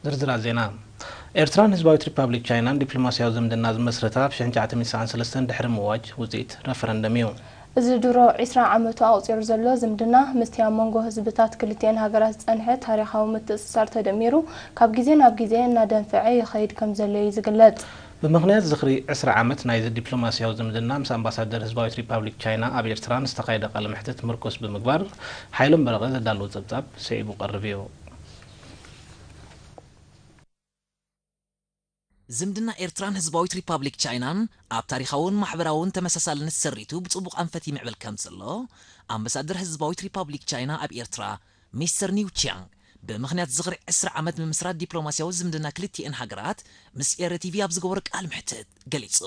ዝርዝራት ዜና፣ ኤርትራን ህዝባዊት ሪፓብሊክ ቻይናን ዲፕሎማስያዊ ዝምድና ዝመስረታ ብ ሽሕ ትሽዓተ ሚእቲ ሰዓን ሰለስተን ድሕሪ ምእዋጅ ውጽኢት ረፈረንደም እዩ። እዚ ድሮ ዕስራ ዓመቱ ኣቑጺሩ ዘሎ ዝምድና፣ ምስቲ ኣብ መንጎ ህዝብታት ክልቲኤን ሃገራት ዝጸንሐ ታሪኻዊ ምትእስሳር ተደሚሩ፣ ካብ ግዜ ናብ ግዜ እናደንፈዐ ይኸይድ ከምዘሎ'ዩ ዝግለጽ። ብምኽንያት ዝኽሪ ዕስራ ዓመት ናይዚ ዲፕሎማስያዊ ዝምድና፣ ምስ ኣምባሳደር ህዝባዊት ሪፓብሊክ ቻይና ኣብ ኤርትራ ንዝተኻየደ ቃለ መሕትት ምርኩስ ብምግባር፣ ሓይሎም በረቐ ዘዳለዎ ጸብጻብ ስዒቡ ክቐርብ እዩ። ዝምድና ኤርትራን ህዝባዊት ሪፓብሊክ ቻይናን ኣብ ታሪኻውን ማሕበራውን ተመሳሳልነት ሰሪቱ ብጽቡቕ ኣንፈት ይምዕብል ከምዘሎ፣ ኣምበሳደር ህዝባዊት ሪፓብሊክ ቻይና ኣብ ኤርትራ ሚስተር ኒው ቺያንግ፣ ብምኽንያት ዝኽሪ ዕስራ ዓመት ምምስራት ዲፕሎማስያዊ ዝምድና ክልቲኤን ሃገራት ምስ ኤረ ቲቪ ኣብ ዝገበሮ ቃል መሕትት ገሊጹ።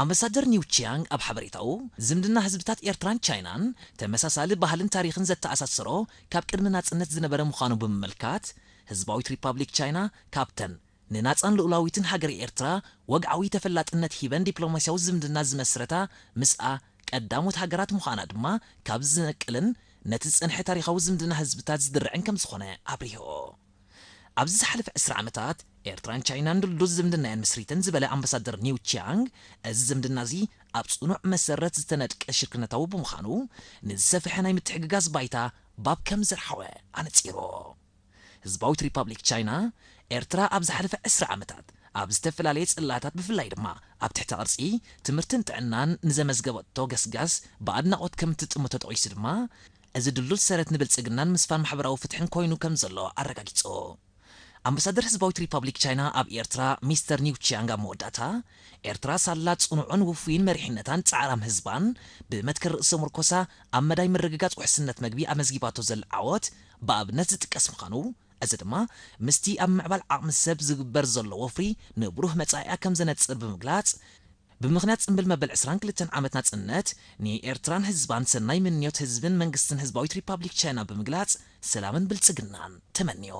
ኣምበሳደር ኒው ቺያንግ ኣብ ሓበሬታኡ፣ ዝምድና ህዝብታት ኤርትራን ቻይናን፣ ተመሳሳሊ ባህልን ታሪኽን ዘተኣሳስሮ ካብ ቅድሚ ናጽነት ዝነበረ ምዃኑ ብምምልካት፣ ህዝባዊት ሪፓብሊክ ቻይና ካብተን ንናጻን ልኡላዊትን ሃገረ ኤርትራ ወግዓዊ ተፈላጥነት ሂበን ዲፕሎማስያዊ ዝምድና ዝመስረታ ምስኣ ቀዳሞት ሃገራት ምዃና ድማ ካብ ዝነቅልን ነቲ ዝጸንሐ ታሪኻዊ ዝምድና ህዝብታት ዝድርዕን ከምዝኾነ ኣብሪሁ። ኣብዚ ዝሓለፈ ዕስራ ዓመታት፣ ኤርትራን ቻይናን ድልዱል ዝምድና እየን መስሪተን ዝበለ ኣምባሳደር ኒው ቺያንግ፣ እዚ ዝምድና'ዚ ኣብ ጽኑዕ መሰረት ዝተነድቀ ሽርክነታዊ ብምዃኑ፣ ንዝሰፍሐ ናይ ምትሕግጋዝ ባይታ ባብ ከም ዘርሓወ ኣነጺሩ። ህዝባዊት ሪፓብሊክ ቻይና፣ ኤርትራ ኣብ ዝሓለፈ ዕስራ ዓመታት ኣብ ዝተፈላለየ ጽላታት ብፍላይ ድማ ኣብ ትሕተ ቅርጺ፣ ትምህርትን ጥዕናን ንዘመዝገበቶ ገስጋስ ብኣድናቖት ከም እትጥምቶ ጠቒሱ ድማ፣ እዚ ድልዱል ሰረት ንብልጽግናን ምስፋን ማሕበራዊ ፍትሕን ኮይኑ ከም ዘሎ ኣረጋጊጹ። ኣምበሳደር ህዝባዊት ሪፓብሊክ ቻይና ኣብ ኤርትራ ሚስተር ኒው ቺያንግ ኣብ መወዳእታ፣ ኤርትራ ሳላ ጽኑዕን ውፉይን መሪሕነታን ጻዕራም ህዝባን ብመትከል ርእሰ-ምርኮሳ ኣብ መዳይ ምርግጋጽ ውሕስነት መግቢ ኣመዝጊባቶ ዘላ ዓወት ብኣብነት ዝጥቀስ ምዃኑ፣ እዚ ድማ ምስቲ ኣብ ምምዕባል ዓቕሚ ሰብ ዝግበር ዘሎ ወፍሪ ንብሩህ መጻኢኣ ከም ዘነጽር ብምግላጽ፣ ብምኽንያት ጽምብል መበል ዕስራን ክልተን ዓመት ናጽነት፣ ንኤርትራን ህዝባን ሰናይ ምንዮት ህዝብን መንግስትን ህዝባዊት ሪፓብሊክ ቻይና ብምግላጽ ሰላምን ብልጽግናን ተመንዮ።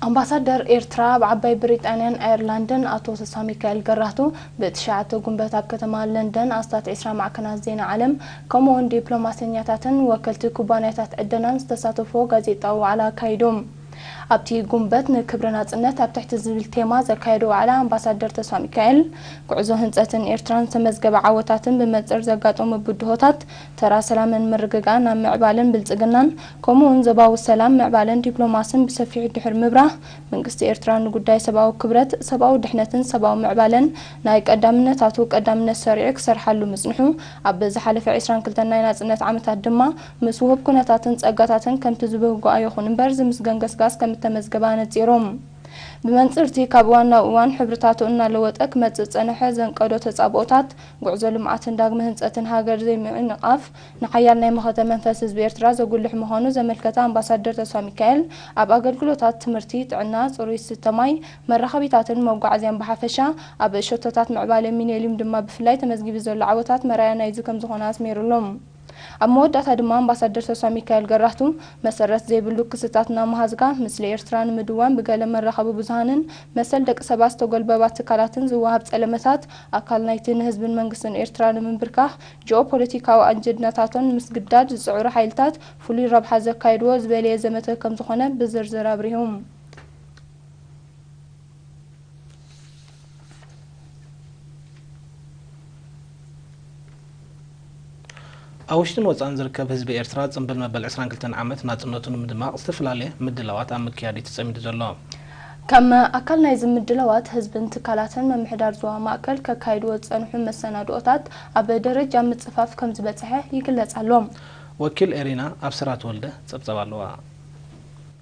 ኣምባሳደር ኤርትራ ኣብ ዓባይ ብሪጣንያን ኣየርላንድን ኣቶ ተስፋሚካኤል ገራህቱ ብ ትሽዓተ ጉንበት ኣብ ከተማ ለንደን ኣስታት ዕስራ ማዕከናት ዜና ዓለም ከምኡ'ውን ዲፕሎማሰኛታትን ወከልቲ ኩባንያታት ዕደናን ዝተሳተፍዎ ጋዜጣዊ ዋዕላ ኣካይዱ። ኣብቲ ጉንበት ንክብሪ ናጽነት ኣብ ትሕቲ ዝብል ቴማ ዘካየዶ ዋዕላ ኣምባሳደር ተስፋሚካኤል፣ ጉዕዞ ህንጸትን ኤርትራን ዝተመዝገበ ዓወታትን ብመንጽር ዘጋጠሙ ብድሆታት ተራ ሰላምን ምርግጋእን ኣብ ምዕባለን ብልጽግናን ከምኡ'ውን ዞባዊ ሰላም፣ ምዕባለን ዲፕሎማስን ብሰፊሑ ድሕሪ ምብራህ መንግስቲ ኤርትራ ንጉዳይ ሰብኣዊ ክብረት፣ ሰብኣዊ ድሕነትን ሰብኣዊ ምዕባለን ናይ ቀዳምነታቱ ቀዳምነት ሰሪዑ ክሰርሓሉ ምጽንሑ ኣብ ዝሓለፈ ዕስራን ክልተን ናይ ናጽነት ዓመታት ድማ ምስ ውሁብ ኩነታትን ጸጋታትን ከምቲ ዝብህጎ ኣይኹን እምበር ዝምስገን ገስጋስ ከም እተመዝገበ ኣነጺሩ። ብመንጽር'ቲ ካብ እዋን ናብ እዋን ሕብርታቱ እናለወጠ ክመጽእ ዝጸነሐ ዘንቀዶ ተጻብኦታት፣ ጉዕዞ ልምዓትን ዳግመ ህንጸትን ሃገር ዘይምዕንቓፍ፣ ንሓያል ናይ መኸተ መንፈስ ህዝቢ ኤርትራ ዘጉልሕ ምዃኑ ዘመልከተ ኣምባሳደር ተስፋሚካኤል፣ ኣብ ኣገልግሎታት ትምህርቲ፣ ጥዕና፣ ጽሩይ ዝስተ ማይ፣ መራኸቢታትን መጓዓዝያን ብሓፈሻ፣ ኣብ ሸቶታት ምዕባለ ሚነሊም ድማ ብፍላይ ተመዝጊቡ ዘሎ ዓወታት መርኣያ ናይዚ ከም ዝኾነ ኣስሚርሉ። ኣብ መወዳእታ ድማ ኣምባሳደር ተስፋሚካኤል ገራህቱ፣ መሰረት ዘይብሉ ክስታት እናመሃዝካ ምስሊ ኤርትራ ንምድዋን ብገለ መራኸቢ ብዙሃንን መሰል ደቂ ሰባት ዝተጎልበባ ትካላትን ዝወሃብ ጸለመታት ኣካል ናይቲ ንህዝብን መንግስትን ኤርትራ ንምንብርካኽ ጂኦፖለቲካዊ ኣጀንዳታቶም ንምስግዳድ ዝጽዕሩ ሓይልታት ፍሉይ ረብሓ ዘካይድዎ ዝበለየ ዘመተ ከምዝኾነ ብዝርዝር ኣብሪሁ። ኣብ ውሽጥን ወጻእን ዝርከብ ህዝቢ ኤርትራ ጽምብል መበል ዕስራን ክልተን ዓመት ናጽነቱ ንምድማቕ ዝተፈላለየ ምድላዋት ኣብ ምክያድ እዩ ተጸሚዱ ዘሎ። ከም ኣካል ናይዚ ምድላዋት፣ ህዝብን ትካላትን ምምሕዳር ዞባ ማእከል ከካይድዎ ዝጸንሑ መሰናድኦታት ኣብ ደረጃ ምጽፋፍ ከምዝበጽሐ ይግለጽ ኣሎ። ወኪል ኤሪና ኣብስራ ተወልደ ጸብጸብ ኣለዋ።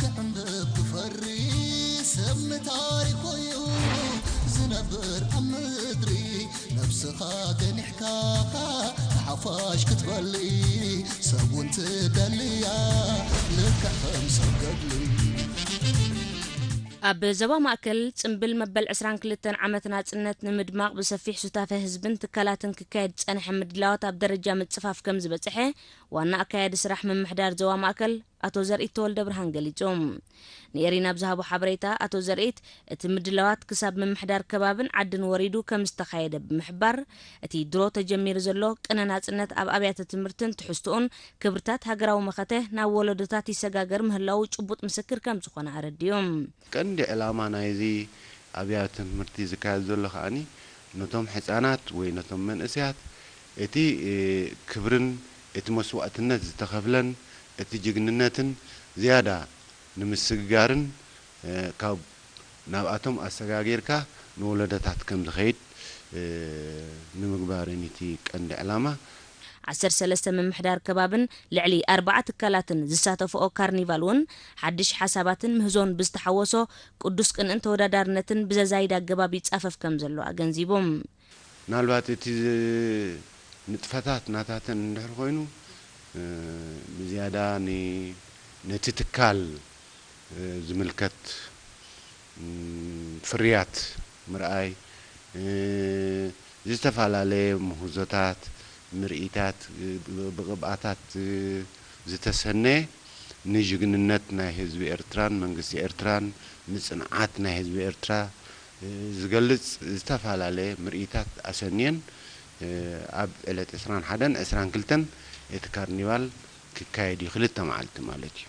ክዕምብብ ክፈሪ ሰብ ንታሪኹ'ዩ ዝነብር ኣብ ምድሪ ነብስኻ ገኒሕካ ንሓፋሽ ክትበሊ ሰብ'ውን ትደሊ'ያ ልክዕ ከም ሰብ ገድሊ። ኣብ ዞባ ማእከል፣ ጽምብል መበል ዕስራን ክልተን ዓመት ናጽነት ንምድማቕ ብሰፊሕ ሱታፈ ህዝብን ትካላትን ክካየድ ዝጸንሐ ምድላዋት ኣብ ደረጃ ምጽፋፍ ከምዝበጸሐ ዋና ኣካያዲ ስራሕ ምምሕዳር ዞባ ማእከል፣ ኣቶ ዘርኢት ተወልደብርሃን ገሊጹ። ንኤሪና ኣብ ዝሃቦ ሓበሬታ፣ ኣቶ ዘርኢት፣ እቲ ምድላዋት ክሳብ ምምሕዳር ከባብን ዓድን ወሪዱ ከም ዝተኻየደ ብምሕባር፣ እቲ ድሮ ተጀሚሩ ዘሎ ቅነ ናጽነት ኣብ ኣብያተ ትምህርትን ትሕዝቶኡን ክብርታት ሃገራዊ መኸተ ናብ ወለዶታት ይሰጋገር ምህላዉ ጭቡጥ ምስክር ከም ዝኾነ ኣረዲኡ። ቀንዲ ዕላማ ናይዚ ኣብያተ ትምህርቲ ዝካየድ ዘሎ ከኣ ነቶም ሕጻናት ወይ ነቶም መንእሰያት እቲ ክብርን እቲ መስዋእትነት ዝተኸፍለን እቲ ጅግንነትን ዝያዳ ንምስግጋርን ካብ ናብኣቶም ኣሰጋጊርካ ንወለዶታት ከም ዝኸይድ ንምግባርን እዩ እቲ ቀንዲ ዕላማ። ዓሰርተ ሰለስተ ምምሕዳር ከባብን ልዕሊ ኣርባዓ ትካላትን ዝሳተፍኦ ካርኒቫል እውን ሓድሽ ሓሳባትን ምህዞን ብዝተሓወሶ ቅዱስ ቅንእን ተወዳዳርነትን ብዘዛይድ ኣገባብ ይፃፈፍ ከምዘሎ ኣገንዚቡ። ምናልባት እቲ ንጥፈታት ናታተን እንድሕር ኮይኑ ብዝያዳ ነቲ ትካል ዝምልከት ፍርያት ምርኣይ፣ ዝተፈላለየ ምህዞታት፣ ምርኢታት፣ ብቕብኣታት ዝተሰነየ ንጅግንነት ናይ ህዝቢ ኤርትራን መንግስቲ ኤርትራን ንጽንዓት ናይ ህዝቢ ኤርትራ ዝገልጽ ዝተፈላለየ ምርኢታት ኣሰንየን ኣብ ዕለት ዕስራን ሓደን ዕስራን ክልተን እቲ ካርኒቫል ክካየድ እዩ ክልተ መዓልቲ ማለት እዩ።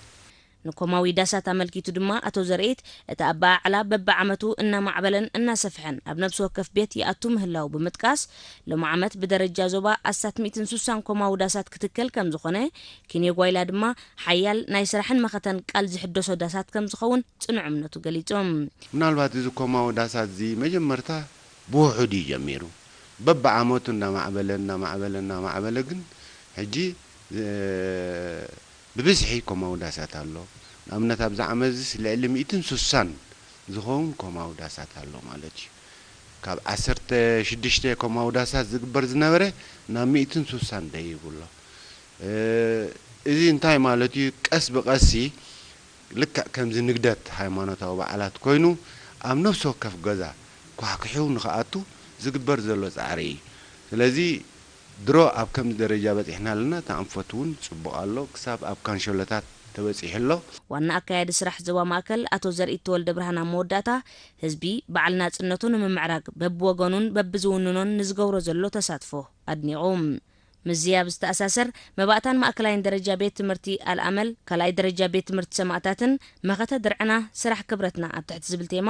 ንኮማዊ ዳሳት ኣመልኪቱ ድማ ኣቶ ዘርኢት፣ እቲ ኣበዓዕላ በብዓመቱ እናማዕበለን እናሰፍሐን ኣብ ነብሲ ወከፍ ቤት ይኣቱ ምህላዉ ብምጥቃስ፣ ሎሚ ዓመት ብደረጃ ዞባ ኣስታት ሚእትን ሱሳን ኮማዊ ዳሳት ክትከል ከምዝኾነ፣ ኪንዮ ጓይላ ድማ ሓያል ናይ ስራሕን መኸተን ቃል ዝሕደሶ ዳሳት ከምዝኸውን ጽኑዕ እምነቱ ገሊጹ። ምናልባት እዚ ኮማዊ ዳሳት'ዚ መጀመርታ ብውሑድ እዩ ጀሚሩ። በብዓመቱ እናማዕበለ እናማዕበለ እናማዕበለ ግን ሕጂ፣ ብብዝሒ ኮማዊ ዳሳት ኣሎ። ንኣብነት ኣብዚ ዓመትዚስ ልዕሊ ሚእትን ሱሳን ዝኸውን ኮማዊ ዳሳት ኣሎ ማለት እዩ። ካብ ዓሰርተ ሽዱሽተ ኮማዊ ዳሳት ዝግበር ዝነበረ ናብ ሚእትን ሱሳን ደይቡ ኣሎ። እዚ እንታይ ማለት እዩ ቀስ ብቐሲ ልክዕ ከምዚ ንግደት ሃይማኖታዊ በዓላት ኮይኑ ኣብ ነፍሲ ወከፍ ገዛ ኳሕኲሑ ንኽኣቱ ዝግበር ዘሎ ጻዕሪ እዩ። ስለዚ። ድሮ ኣብ ከምዚ ደረጃ በጺሕና ኣለና እቲ ኣንፈት ውን ጽቡቅ ኣሎ ክሳብ ኣብ ካንሸሎታት ተበጺሑ ኣሎ። ዋና ኣካያዲ ስራሕ ዞባ ማእከል ኣቶ ዘርኢቲ ወልደብርሃን ኣብ መወዳእታ፣ ህዝቢ በዓል ናጽነቱ ንምምዕራግ በብወገኑን በብዝውንኖን ንዝገብሮ ዘሎ ተሳትፎ ኣድኒቑ። ምስዚ ኣብ ዝተኣሳሰር፣ መባእታን ማእከላይን ደረጃ ቤት ትምህርቲ ኣልኣመል፣ ካልኣይ ደረጃ ቤት ትምህርቲ ሰማእታትን መኸተ ድርዕና ስራሕ ክብረትና ኣብ ትሕቲ ዝብል ቴማ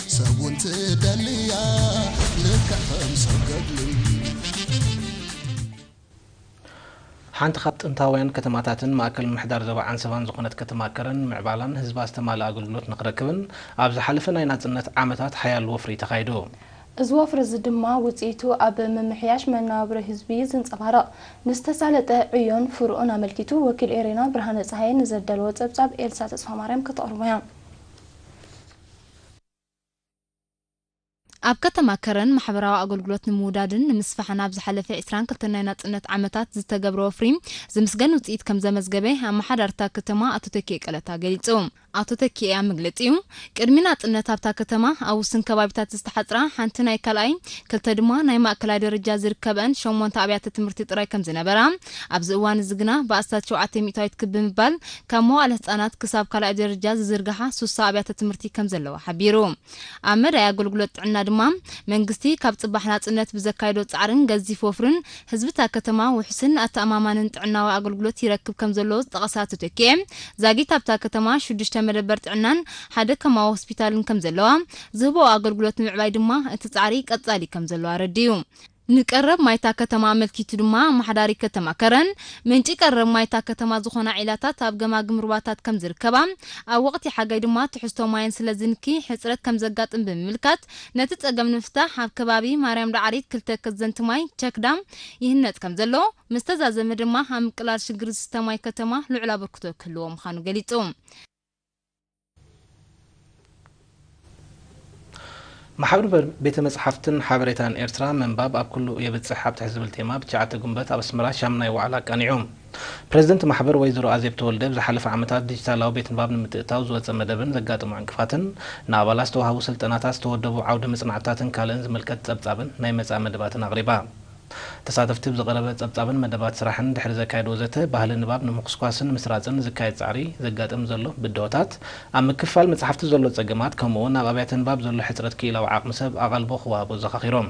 ሰብ ውን ትደሊ እያ ልክዕ ከም ሰብ ገድሊ። ሓንቲ ካብ ጥንታውያን ከተማታትን ማእከል ምምሕዳር ዞባ ዓንሰባን ዝኾነት ከተማ ከረን ምዕባላን ህዝባ ዝተማልኣ ኣገልግሎት ንኽረክብን ኣብ ዝሓለፈ ናይ ናጽነት ዓመታት ሓያል ወፍሪ ተኻይዱ። እዚ ወፍሪ እዚ ድማ ውጽኢቱ ኣብ ምምሕያሽ መነባብሮ ህዝቢ እዩ ዝንጸባረቕ። ንዝተሳለጠ ዕዮን ፍርኡን ኣመልኪቱ ወኪል ኤሪና ብርሃነ ጸሃየ ንዘዳለዎ ጸብጻብ ኤልሳ ተስፋማርያም ከተቕርቦ'ያ። ኣብ ከተማ ከረን ማሕበራዊ ኣገልግሎት ንምውዳድን ንምስፋሕን ኣብ ዝሓለፈ ዕስራን ክልተን ናይ ናጽነት ዓመታት ዝተገብረ ወፍሪ ዝምስገን ውጽኢት ከምዘመዝገበ ኣመሓዳሪ እታ ከተማ ኣቶ ተኪኤ ቀለታ ገሊጹ። ኣቶ ተኪኤ ኣብ መግለጺኡ፣ ቅድሚ ናጽነት ኣብታ ከተማ ኣብ ውስን ከባቢታት ዝተሓጽራ ሓንቲ ናይ ካልኣይ፣ ክልተ ድማ ናይ ማእከላይ ደረጃ ዝርከበኣን ሸሞንተ ኣብያተ ትምህርቲ ጥራይ ከምዝነበራ፣ ኣብዚ እዋን'ዚ ግና ብኣስታት ሸውዓተ ሚእታዊት ክብ ብምባል ካብ መዋእለ ህጻናት ክሳብ ካልኣይ ደረጃ ዝዝርግሓ ሱሳ ኣብያተ ትምህርቲ ከም ዘለዋ ሓቢሩ። ኣብ መዳይ ኣገልግሎት ጥዕና ድማ፣ መንግስቲ ካብ ጽባሕ ናጽነት ብዘካይዶ ጻዕርን ገዚፍ ወፍርን፣ ህዝቢ'ታ ከተማ ውሑስን ኣተኣማማንን ጥዕናዊ ኣገልግሎት ይረክብ ከም ዘሎ ዝጠቐሳ ኣቶ ተኪኤ፣ ዛጊት ኣብታ ከተማ ሽዱሽተ መደበር ጥዕናን ሓደ ከማዊ ሆስፒታልን ከም ዘለዋ፣ ዝህበኦ ኣገልግሎት ንምዕባይ ድማ እቲ ጻዕሪ ቀጻሊ ከም ዘሎ ኣረዲኡ። ንቀረብ ማይ'ታ ከተማ ኣመልኪቱ ድማ ኣመሓዳሪ ከተማ ከረን፣ ምንጪ ቀረብ ማይ'ታ ከተማ ዝኾና ዒላታት ኣብ ገማግም ሩባታት ከምዝርከባ፣ ኣብ ወቕቲ ሓጋይ ድማ ትሕዝቶ ማየን ስለዝንኪ ሕጽረት ከምዘጋጥም ብምምልካት፣ ነቲ ጸገም ንምፍታሕ ኣብ ከባቢ ማርያም ዳዕሪት ክልተ ከዘንቲ ማይ፣ Check Dam፣ ይህነጽ ከምዘሎ፣ ምስተዛዘመ ድማ ኣብ ምቅላል ሽግር ዝስተ ማይ ከተማ ልዑል ኣበርክቶ ክህልዎ ምዃኑ ገሊጹ። ማሕብር ቤተ መጽሓፍትን ሓበሬታን ኤርትራ ምንባብ ኣብ ኩሉ የብጽሕ ኣብ ትሕቲ ዝብል ቴማ ብ ትሽዓተ ግንቦት ኣብ ኣስመራ ሻምናይ ዋዕላ ኣቃኒዑ። ፕረዚደንት ማሕበር ወይዘሮ ኣዜብ ተወልደ ብ ዝሓለፈ ዓመታት ዲጂታላዊ ቤት ንባብ ንምትእትታው ዝወጸ መደብን ዘጋጠሞ ዕንቅፋትን፣ ንኣባላት ዝተዋህቡ ስልጠናታት፣ ዝተወደቡ ዓውደ መጽናዕትታትን ካልእን ዝምልከት ጸብጻብን ናይ መጻኢ መደባትን ኣቕሪባ። ተሳተፍቲ ብዝቐረበ ጸብጻብን መደባት ስራሕን ድሕሪ ዘካየድዎ ዘተ፣ ባህሊ ንባብ ንምኹስኳስን ምስራጽን ዝካየድ ጻዕሪ፣ ዘጋጥም ዘሎ ብድሆታት፣ ኣብ ምክፋል መጻሕፍቲ ዘሎ ጸገማት ከምኡ'ውን ኣብ ኣብያተ ንባብ ዘሎ ሕጽረት ክኢላዊ ዓቕሚ ሰብ ኣቓልቦ ክወሃቦ ኣዘኻኺሮም።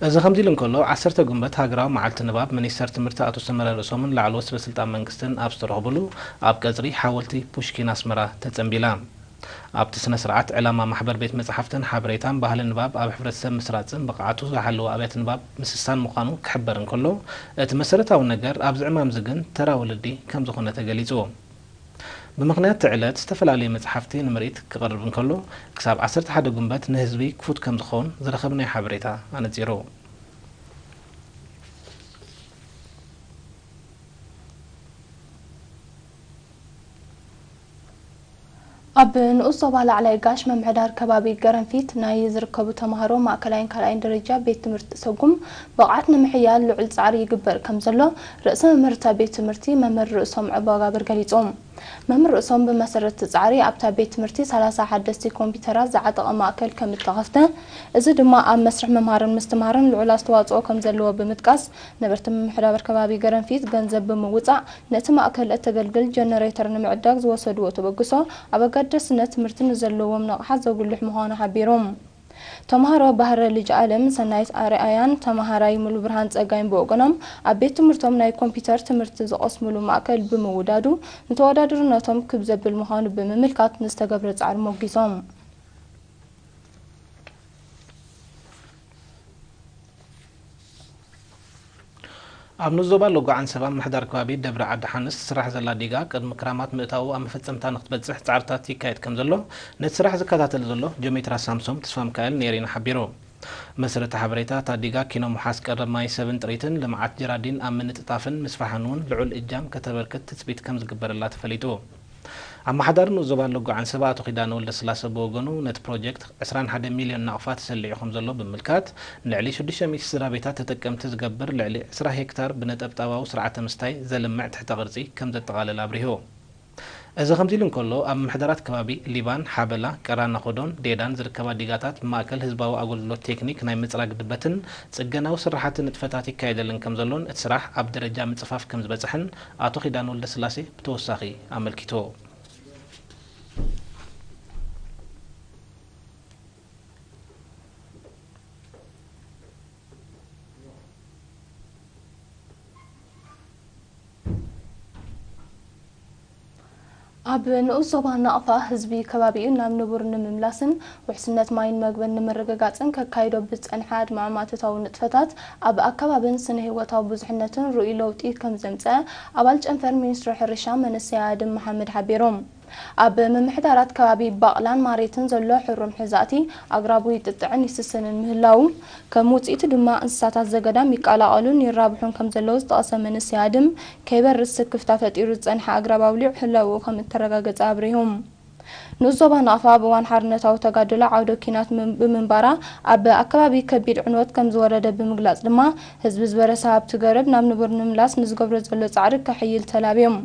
እዚ ከምዚ'ሉ እንከሎ፣ ዓሰርተ ጉንበት ሃገራዊ መዓልቲ ንባብ፣ ሚኒስተር ትምህርቲ ኣቶ ሰመረ ርእሶምን ላዕለዎት ሰበስልጣን መንግስትን ኣብ ዝተረኽቡሉ፣ ኣብ ቀጽሪ ሓወልቲ ፑሽኪን ኣስመራ ተጸንቢላ። ኣብቲ ስነ ስርዓት ዕላማ ማሕበር ቤት መጻሕፍትን ሓበሬታን ባህሊ ንባብ ኣብ ሕብረተሰብ ምስራጽን ብቕዓቱ ዝሓለወ ኣብያተ ንባብ ምስሳን ምዃኑ ክሕበር እንከሎ እቲ መሰረታዊ ነገር ኣብዚ ዕማምዚ ግን ተራ ወለዲ ከም ዝኾነ ተገሊጹ ብምኽንያት እቲ ዕለት ዝተፈላለዩ መጽሓፍቲ ንምርኢት ክቐርብ እንከሎ ክሳብ ዓሰርተ ሓደ ጉንበት ንህዝቢ ክፉት ከም ዝኸውን ዝረኸብናዮ ሓበሬታ ኣነጺሩ። ኣብ ንኡስ ዞባ ላዕላይ ጋሽ ምምሕዳር ከባቢ ገረንፊት ናይ ዝርከቡ ተምሃሮ ማእከላይን ካልኣይን ደረጃ ቤት ትምህርቲ ሰጉም ብቕዓት ንምሕያል ልዑል ፃዕሪ ይግበር ከምዘሎ ርእሰ መምህር እታ ቤት ትምህርቲ መምህር ርእሶም ዑባጋብር ገሊፆም። መምህር ርእሶም ብመሰረት እቲ ፃዕሪ ኣብታ ቤት ትምህርቲ ሰላሳ ሓደስቲ ኮምፒዩተራት ዝዓጠቐ ማእከል ከምእተኸፍተ እዚ ድማ ኣብ መስርሕ ምምሃርን ምስትምሃርን ልዑል ኣስተዋፅኦ ከምዘለዎ ብምጥቃስ ነበርቲ ምምሕዳር ከባቢ ገረንፊት ገንዘብ ብምውፃእ ነቲ ማእከል እተገልግል ጀነሬተር ንምዕዳግ ዝወሰድዎ ተበግሶ ኣብ ኣገዳስነት ትምህርቲ ንዘለዎም ንቕሓት ዘጉልሕ ምዃኑ ሓቢሩ። ተምሃሮ ባህረ ልጅኣለም፣ ሰናይት ኣርኣያን ተምሃራይ ሙሉብርሃን ፀጋይን ብወገኖም ኣብ ቤት ትምህርቶም ናይ ኮምፒተር ትምህርቲ ዝቐስምሉ ማእከል ብምውዳዱ ንተወዳድርነቶም ክብ ዘብል ምዃኑ ብምምልካት ንዝተገብረ ፃዕሪ ሞጊሶም። ኣብ ንኡስ ዞባ ሎጎ ዓንሰባ ኣብ ምሕዳር ከባቢ ደብረ ዓዲ ሓንስ ትስራሕ ዘላ ዲጋ ቅድሚ ክራማት ምእታዉ ኣብ መፈጸምታ ንክትበጽሕ ጻዕርታት ይካየድ ከምዘሎ ነቲ ስራሕ ዝከታተል ዘሎ ጆሜትራ ሳምሶም ተስፋሚካኤል ንኤሪና ሓቢሩ። ብመሰረት እቲ ሓበሬታ እታ ዲጋ ኪኖ ምውሓስ ቀረብ ማይ ሰብን ጥሪትን ልምዓት ጀራዲን ኣብ ምንጥጣፍን ምስፋሕን'ውን ልዑል እጃም ከተበርክት ትጽቢት ከምዝግበረላ ተፈሊጡ። ኣመሓዳሪ ንኡስ ዞባ ኣሎጎ ዓንሰባ ኣቶ ኪዳነ ወልደስላሰ ብወገኑ፣ ነቲ ፕሮጀክት ዕስራን ሓደን ሚልዮን ናቕፋ ተሰሊዑ ከምዘሎ ብምምልካት፣ ንልዕሊ ሽዱሽተ ሚእቲ ስድራቤታት ተጠቀምቲ ዝገብር ልዕሊ ዕስራ ሄክታር ብነጠብጣባዊ ስርዓተ ምስታይ ዘልምዕ ትሕተ ቅርጺ ከምዘጠቓልል ኣብሪሁ። እዚ ከምዚሉ እንከሎ፣ ኣብ ምሕደራት ከባቢ ሊባን፣ ሓበላ፣ ቀራናኾዶን ዴዳን ዝርከባ ዲጋታት ማእከል ህዝባዊ ኣገልግሎት ቴክኒክ ናይ ምጽራግ ድበትን ጽገናዊ ስርሓትን ንጥፈታት ይካየደለን ከምዘሎን እቲ ስራሕ ኣብ ደረጃ ምጽፋፍ ከምዝበጽሐን ኣቶ ኪዳነ ወልደስላሴ ብተወሳኺ ኣመልኪቱ። ኣብ ንኡስ ዞባ ናቕፋ፣ ህዝቢ ከባቢኡ ናብ ንቡር ንምምላስን ውሕስነት ማይን መግብን ንምርግጋጽን ከካይዶ ብዝጸንሐ ኣድማዕማእቶታዊ ንጥፈታት ኣብ ኣከባብን ስነ-ህይወታዊ ብዙሕነትን ርኡይ ለውጢ ከምዘምጽአ ኣባል ጨንፈር ሚኒስትሪ ሕርሻ መንሰይ ኣድም መሓመድ ሓቢሩ። ኣብ ምምሕዳራት ከባቢ ባቕላን ማሬትን ዘሎ ሕሩም ሕዛእቲ ኣግራቡ ይጥጥዕን ይስስንን ምህላዉ፣ ከም ውጽኢቱ ድማ እንስሳታት ዘገዳም ይቀላቐሉን ይራብሑን ከምዘለዉ ዝጠቐሰ መንሰይ ኣድም፣ ከይበርስ ስክፍታ ፈጢሩ ዝጸንሐ ኣግራብ ኣውሊዑ ህላውኡ ከም እተረጋገጸ ኣብሪሁ። ንኡስ ዞባ ናቕፋ ኣብ እዋን ሓርነታዊ ተጋድሎ ዓውደ ኲናት ብምንባራ ኣብ ኣከባቢ ከቢድ ዕንወት ከም ዝወረደ ብምግላጽ ድማ ህዝቢ ዝበረሰ ሃብቲ ገረብ ናብ ንቡር ንምምላስ ንዝገብሮ ዘሎ ጻዕሪ ከሕይል ተላብዮም።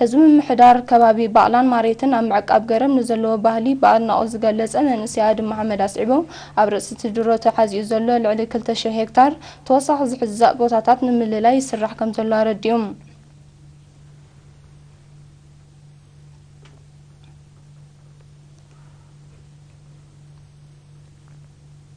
ህዝቢ ምምሕዳር ከባቢ ባቕላን ማሬትን ኣብ ምዕቃብ ገረብ ንዘለዎ ባህሊ ብኣድናቖት ዝገለጸ መንእሰይ ኣድም መሓመድ ኣስዒቡ ኣብ ርእሲ'ቲ ድሮ ተሓዚኡ ዘሎ ልዕሊ ክልተ ሽሕ ሄክታር ተወሳኺ ዝሕዛእ ቦታታት ንምልላይ ይስራሕ ከምዘሎ ኣረዲኡ።